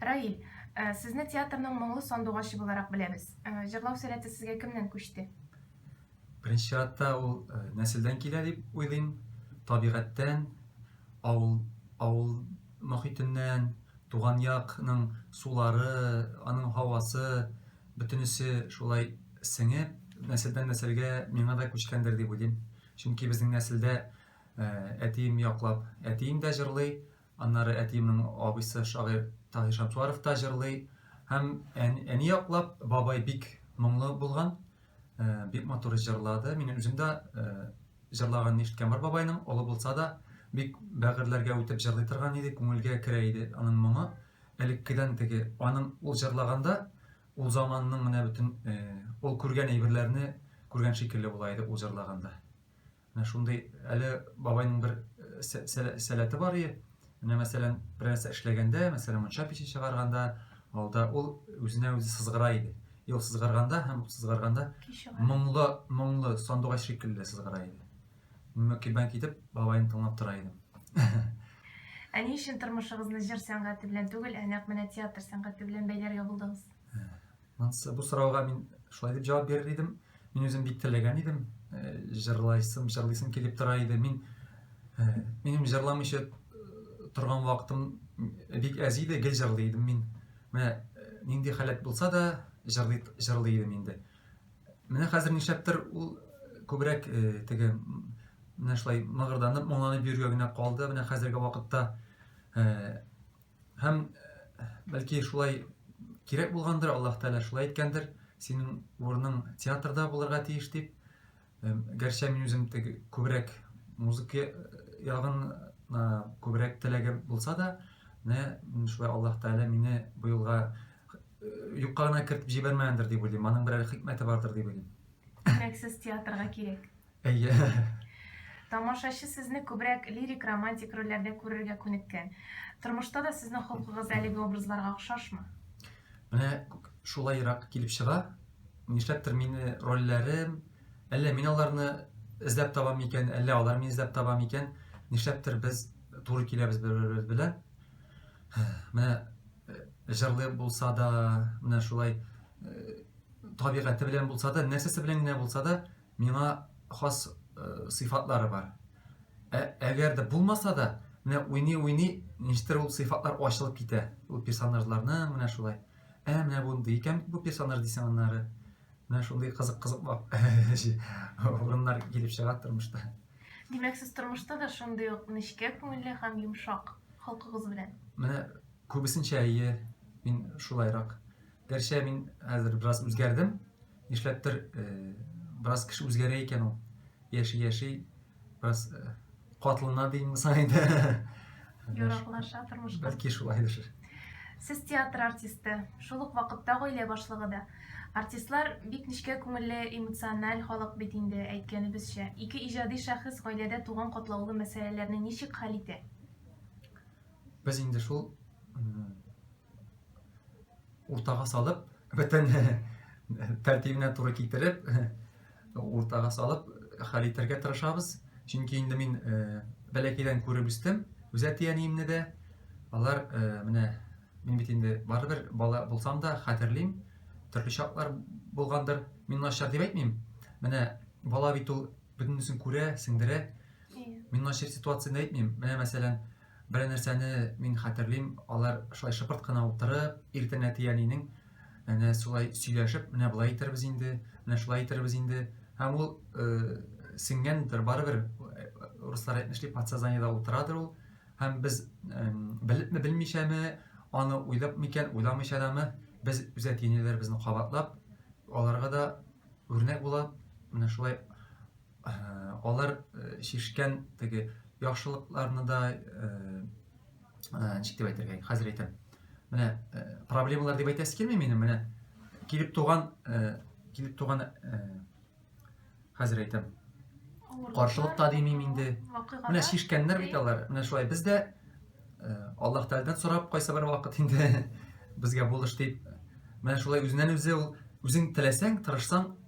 Раиль, э, сезне театрның моңлы сандугачы буларак беләбез. Э, җырлау сәләте сезгә кемнән күчте? Беренче чиратта ул э, нәселдән килә дип уйлыйм. Табигатьтән, авыл, авыл мохитеннән, туган якның сулары, аның һавасы, бөтенесе шулай сеңеп, нәселдән нәселгә миңа да күчкәндер дип уйлыйм. Чөнки безнең нәселдә әтием яклап, әтием дә җырлый, Аннары әтиемнең абыйсы шагыйрь Таһир Шәмсуаров та җырлый. Һәм әни яклап бабай бик моңлы булган, бик матур җырлады. Мин үзем дә җырлаганын ишеткән бар бабайның, олы булса да, бик бәгырьләргә үтеп җырлый торган иде, күңелгә керә иде аның моңы. Элеккедән теге аның ул җырлаганда, ул заманның менә бөтен ул күргән әйберләрне күргән шикелле була иде ул җырлаганда. Менә шундый әле бабайның бер э, сәләте бар ие. Менә мәсәлән, бер нәрсә эшләгәндә, мәсәлән, мунча пече чыгарганда, алда ул үзенә үзе сызгыра иде. Ел сызгарганда һәм сызгарганда моңлы, моңлы сандугач шикелле сызгыра иде. Мин кибән китеп, бабайны тыңлап тора идем. Ә ни өчен тормышыгызны җыр сәнгате белән түгел, ә нәкъ менә театр сәнгате белән бәйләргә булдыгыз? Монсы бу сорауга мин шулай дип җавап бирер идем. Мин үзем бик теләгән идем, э, җырлайсым, җырлыйсым килеп тора иде. Мин э, минем җырламыйча э, торган вакытым бик әз иде, гел җырлый идем мин. Менә нинди халәт булса да җырлый җырлый идем инде. Менә хәзер нишләптер ул күбрәк теге менә шулай мыгырданып, моңланып йөргәгенә калды. Менә хәзерге вакытта Һәм бәлки шулай кирәк булгандыр, Аллаһ Тәгалә шулай әйткәндер, синең урының театрда булырга тиеш дип. Гәрчә мин үзем тег күбрәк музыка ягын күбрәк теләге булса да, не шулай Аллаһ Тәгалә мине бу юлга юкка гына кертеп җибәрмәгәндер дип уйлыйм. Аның берәр хикмәте бардыр дип уйлыйм. Күбрәк сез театрга кирәк. Әйе. Тамашачы сезне күбрәк лирик-романтик рольләрдә күрергә күнеккән. Тормышта да сезнең холкыгыз әлеге образларга охшашмы? Менә шулайрак килеп чыга. Нишләптер мине рольләрем, әллә мин аларны эзләп табам микән, әллә алар мине эзләп таба микән, нишләптер без туры киләбез бер-беребез белән. Менә җырлый булса да, менә шулай табигате белән булса да, нәрсәсе белән генә булса да, миңа хас сыйфатлары бар. Ә, әгәр дә булмаса да, менә уйный-уйный, ништер ул сыйфатлар ачылып китә. Ул персонажларның менә шулай. Ә, менә бундый икән бу персонаж дисең аннары. Менә шундый кызык-кызык урыннар килеп чыга тормышта. Димәк, сез тормышта да шундый ук нечкә күңелле һәм йомшак холкыгыз белән. Менә күбесенчә әйе, мин шулайрак. Гәрчә мин хәзер бераз үзгәрдем. Нишләптер, э, бераз кеше үзгәрә икән ул. Яши-яши бераз э, катлана димме соң инде. Яраклаша тормышка. Бәлки шулайдыр. Сез театр артисты, шул ук вакытта гаилә башлыгы да. Артистлар бик нечкә күңелле, эмоциональ халык бит инде, әйткәнебезчә. Ике иҗади шәхес гаиләдә туган катлаулы мәсьәләләрне ничек хәл итә? Без инде шул уртага салып бөтен тәртибенә туры китереп уртага салып хәл итәргә тырышабыз чөнки инде мин э, бәләкәйдән күреп үстем үз әти әниемне дә алар э, менә мин бит инде барыбер бала булсам да хәтерлим төрле чаклар булгандыр мин начар дип әйтмим менә бала бит ул бөтенесен күрә сеңдерә мин начар ситуацияне әйтмим менә мәсәлән Бер нәрсәне мин хәтерлим, алар шулай шыпырт кына утырып, иртән әти әнинең әнә шулай сөйләшеп, менә болай итербез инде, менә шулай итербез инде. Һәм ул э, сеңгәндер, барыбер э, руслар әйтмешли, подсознаниедә утырадыр ул. Һәм без э, белепме, белмичәме, аны уйлап микән, уйламыйча дамы, без үз әти-әниләребезне кабатлап, аларга да үрнәк булып, менә шулай Алар шешкән теге яхшылыкларны да ничек дип әйтергә, хәзер әйтәм. Менә проблемалар дип әйтәсе килми минем, менә килеп туган килеп туган хәзер әйтәм. Каршылык та димим инде. Менә шешкәннәр бит алар. Менә шулай без дә Аллаһ Тәгаләдән сорап кайсы бер вакыт инде безгә булыш дип. Менә шулай үзеннән үзе ул үзең теләсәң, тырышсаң,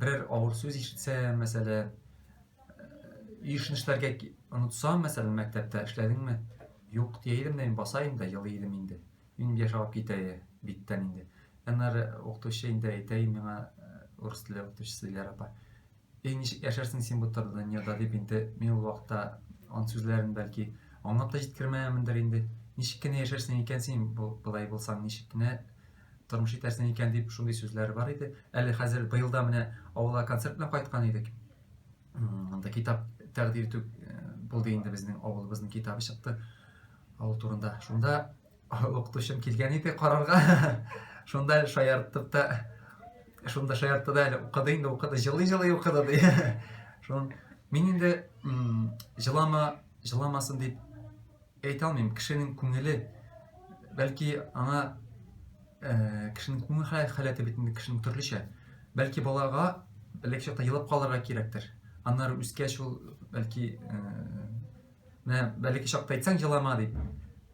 Берәр авыр сүз ишетсә, мәсәлә, өйшнешләргә онытсам, мәсәлән, мәктәптә эшләдеңме? Юк, дия идем дә, мин баса инде, елый идем инде. Минем яшь алып китә биттән инде. Аннары укытучы инде әйтә миңа, урыс теле укытучысы Диляр апа. Эй, ничек яшәрсең син бу тар дөньяда дип инде, мин ул вакытта аның сүзләрен бәлки аңлап та җиткермәгәнмендер инде. Ничек кенә яшәрсең икән син, болай булсаң, ничек кенә тормыш итәрсең икән, дип шундый сүзләр бар иде. Әле хәзер быелда менә авылга концерт белән кайткан идек. Анда китап тәкъдир итү э, булды инде безнең авылыбызның китабы чыкты. Авыл турында. Шунда укытучым килгән иде карарга. Шунда шаярттык та шунда шаяртты да әле укыды инде укыды жылый жылый укыды ди шун мин инде жылама жыламасын дип Әйтә алмыйм, кешенең күңеле, бәлки аңа кешенең күңел халәте бит инде кешенең төрлечә. Бәлки балага элек чакта елап калырга кирәктер. Аннары үскәч ул бәлки менә бәлки чакта әйтсәң җылама дип,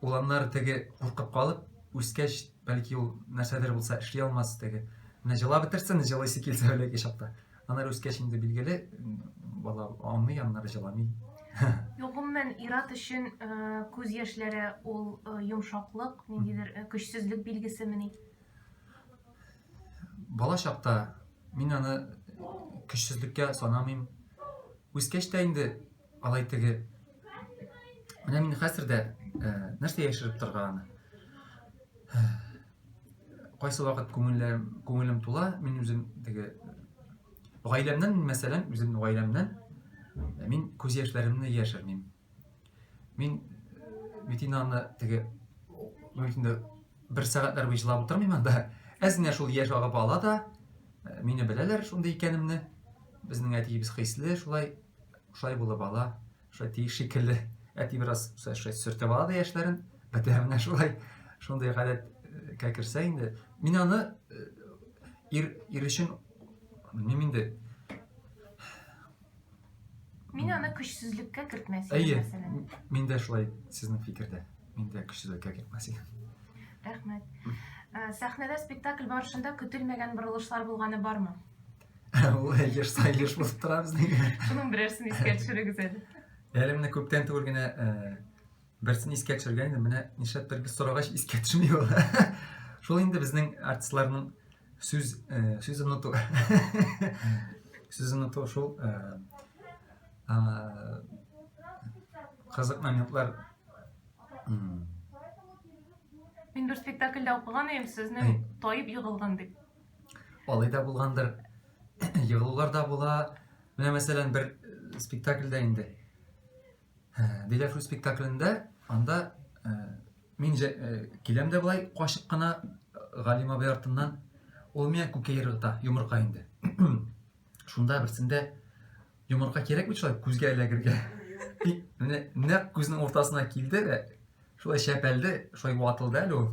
ул аннары теге куркып калып, үскәч бәлки ул нәрсәдер булса эшли алмас теге. Менә җылап бетерсен, җылыйсы килсә бәлки чакта. Анар үскәч инде билгеле, бала аңлый, аннары җыламый. Гомумән, ир-ат өчен э, күз яшьләре ул э, йомшаклык, ниндидер э, көчсезлек билгесемени? Бала чакта мин аны көчсезлеккә санамыйм. Үскәч тә инде Алай теге... Менә мин хәзер дә э, нәрсә яшереп торганы. Кайсы вакыт күңелләрем, күңелем тула, мин үзем теге гаиләмнән, мәсәлән, үзем гаиләмнән э, мин күз яшьләремне яшермим. Мин Митинаны теге мөмкин бер сәгатьләр буе җылап утырмыйм анда. Әзенә шул яшь агып ала да, э, мине беләләр шундый икәнемне. Безнең әтиебез хисле, шулай Шулай булып ала, шулай тиеш шикелле. Әти бераз шулай сөртеп ала да яшьләрен. Әтә менә шулай шундый гадәткә э, керсә инде. Мин аны э, ир, ир өчен мин инде Мин аны көчсезлеккә кертмәс идем, мәсәлән. Әйе, мин дә шулай сезнең фикердә. Мин дә көчсезлеккә кертмәс идем. Рәхмәт. Сәхнәдә спектакль барышында көтелмәгән борылышлар булганы бармы? Ул еш та еш булып тора безнең. Шуның берәрсен искә төшерегез әле. Әле менә күптән түгел генә берсен искә төшергән идем. Менә нишләптер без сорагач искә төшми ул. Шул инде безнең артистларның сүз сүз оныту. Сүз оныту шул кызык моментлар Мин бер спектакльдә укыган идем, сезне таеп егылган дип. Алай да булгандыр. Егылулар да була. Менә мәсәлән бер спектакльдә инде. Диләфрү спектаклендә анда мин киләм дә болай качып кына Галим абый артыннан. Ул миңа күкәй ыргыта, йомырка инде. Шунда берсендә йомырка кирәк бит шулай күзгә эләгергә. Менә нәкъ күзнең уртасына килде дә, шулай чәпәлде, шулай ватылды әле ул.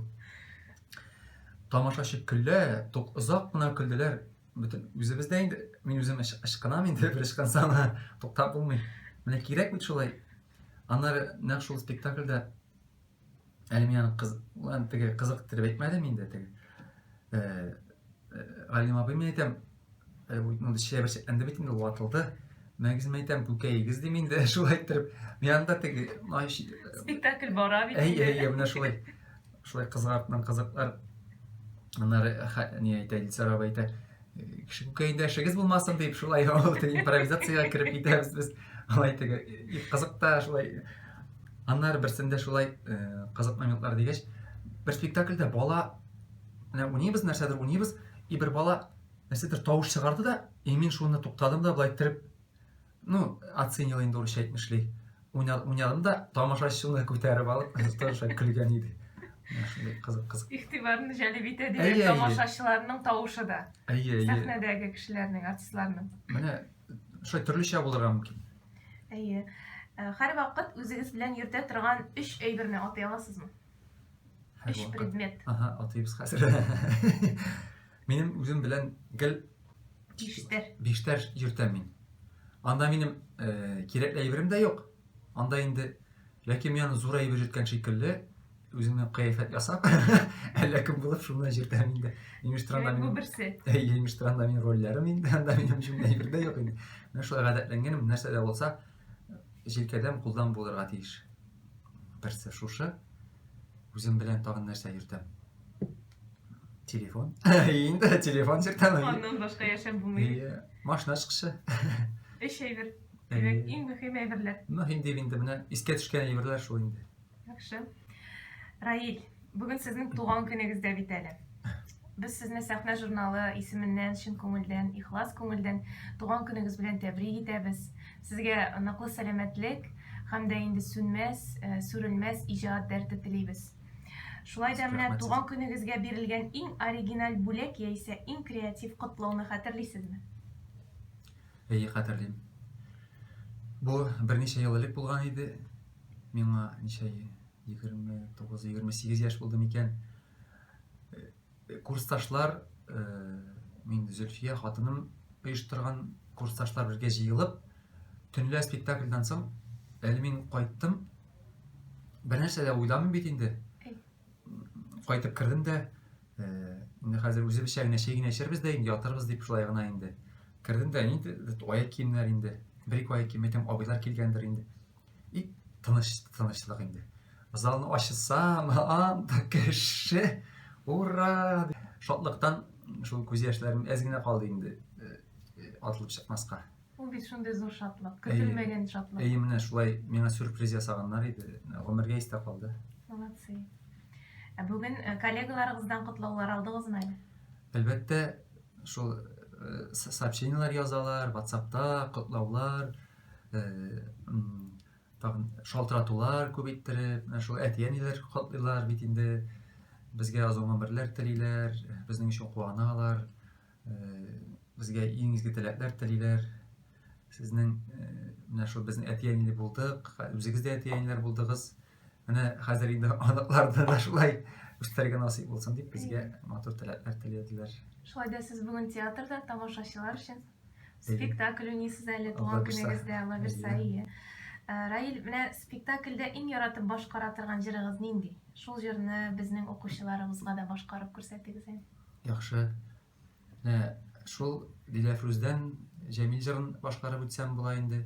Тамашачы көлә, тук озак кына көлделәр. Бөтен үзебез дә инде, мин үзем ычкынам инде, бер ычкынсам, туктап булмый. Менә кирәк бит шулай. Аннары нәкъ шул спектакльдә әле мин аны кыз, теге кызыктырып әйтмәдем инде теге э, э, Галим абый мин әйтәм э, ну шәбер шәтләнде бит инде ватылды мәгез мин әйтәм күкәегез дим инде шулай иттереп мин анда теге спектакль бара бит әйе әйе менә шулай шулай кызык артыннан кызыклар аннары не әйтә илсар абый әйтә Күкәйдәшегез булмасын дип, шулай импровизациягә кереп китәбез без. Алай теге кызык та шулай. Аннары берсендә шулай э, кызык моментлар дигәч, бер спектакльдә бала менә уйныйбыз нәрсәдер уйныйбыз, и бер бала нәрсәдер тавыш чыгарды да, и мин шуны туктадым да, былай иттереп ну, оценил инде урысча әйтмешли. Уйнадым да, тамашачыны күтәреп алып, тоже көлгән иде. Кызык, кызык. Игътибарын җәлеп итә дигән тамашачыларның тавышы да. Әйе, әйе. Сәхнәдәге кешеләрнең, артистларның. Менә шулай төрлечә булырга мөмкин. Әйе. Э, һәр вакыт үзегез белән йөртә торган өч әйберне атый аласызмы? Өч предмет. Ага, атыйбыз хәзер. Минем үзем белән гел Биштәр. Биштәр йөртәм мин. Анда минем э, кирәкле әйберем дә юк. Анда инде ләкин мин аны зур әйбер йөрткән шикелле үземнең кыяфәт ясап, әллә кем булып шуны йөртәм инде. Имештранда мин берсе. Имештранда мин рольләрем инде, анда минем шундый әйбер дә юк инде. Менә шулай гадәтләнгәнем, нәрсә дә булса, җилкәдән кулдан булырга тиеш. Берсе шушы. Үзем белән тагын нәрсә йөртәм? Телефон. Инде телефон сертәме? Аннан башка яшәп булмый. Машина чыгышы. Эш әйбер. Димәк, иң мөһим әйберләр. Мөһим дип инде менә искә төшкән әйберләр шул инде. Яхшы. Раил, бүген сезнең туган көнегез дә бит әле. Без сезне сәхнә журналы исеменнән чын күңелдән, ихлас күңелдән туган көнегез белән тәбрик итәбез. Сезгә ныклы сәламәтлек һәм дә инде сүнмәс, сүрелмәс иҗат дәрте телибез. Шулай да менә туган көнегезгә бирелгән иң оригиналь бүләк яисә иң креатив котлауны хәтерлисезме? Әйе, хәтерлим. Бу берничә ел элек булган иде. Миңа ничә, 29-28 яшь булды микән? Курсташлар, мин Зөлфия хатыным оештырган курсташлар бергә җыелып, төнлә спектакльдан соң, әле мин кайттым, бернәрсә дә уйламыйм бит инде. Кайтып кердем дә, инде хәзер үзебезчә генә чәй генә эчәрбез дә инде, ятарбыз дип шулай гына инде. Кердем дә, нинди аяк киемнәр инде, бер-ике аяк кием, әйтәм, абыйлар килгәндер инде. И тыныч, тынычлык инде. Залны ачсам, анда кеше, ура! Шатлыктан шул күз яшьләрем әз генә калды инде э, э, атылып чыкмаска. Ул бит шундый зур шатлык, көтелмәгән шатлык. Әйе, менә шулай миңа сюрприз ясаганнар иде. Гомергә истә калды. Молодцы. Ә бүген э, коллегаларыгыздан котлаулар алдыгызмы әле? Әлбәттә, шул сообщениеләр язалар, WhatsApp-та котлаулар, тагын шалтыратулар күп иттереп менә шул әти әниләр котлыйлар бит инде безгә озын гомерләр телиләр безнең өчен куаналар безгә иң изге теләкләр телиләр сезнең менә шул безнең әти әниле булдык үзегез дә әти әниләр булдыгыз Менә хәзер инде аныкларда да шулай үстерергә насыйп булсын дип безгә матур теләкләр теләделәр. Шулай да сез бүген театрда тамашачылар өчен спектакль уйныйсыз әле туган көнегездә Лаверса ие. Э, Раил, менә спектакльдә иң яратып башкара торган җырыгыз нинди? Шул җырны безнең укучыларыбызга да башкарып күрсәтегез әле. Яхшы. Менә шул Диләфрүздән Җәмил җырын башкарып үтсәм була инде.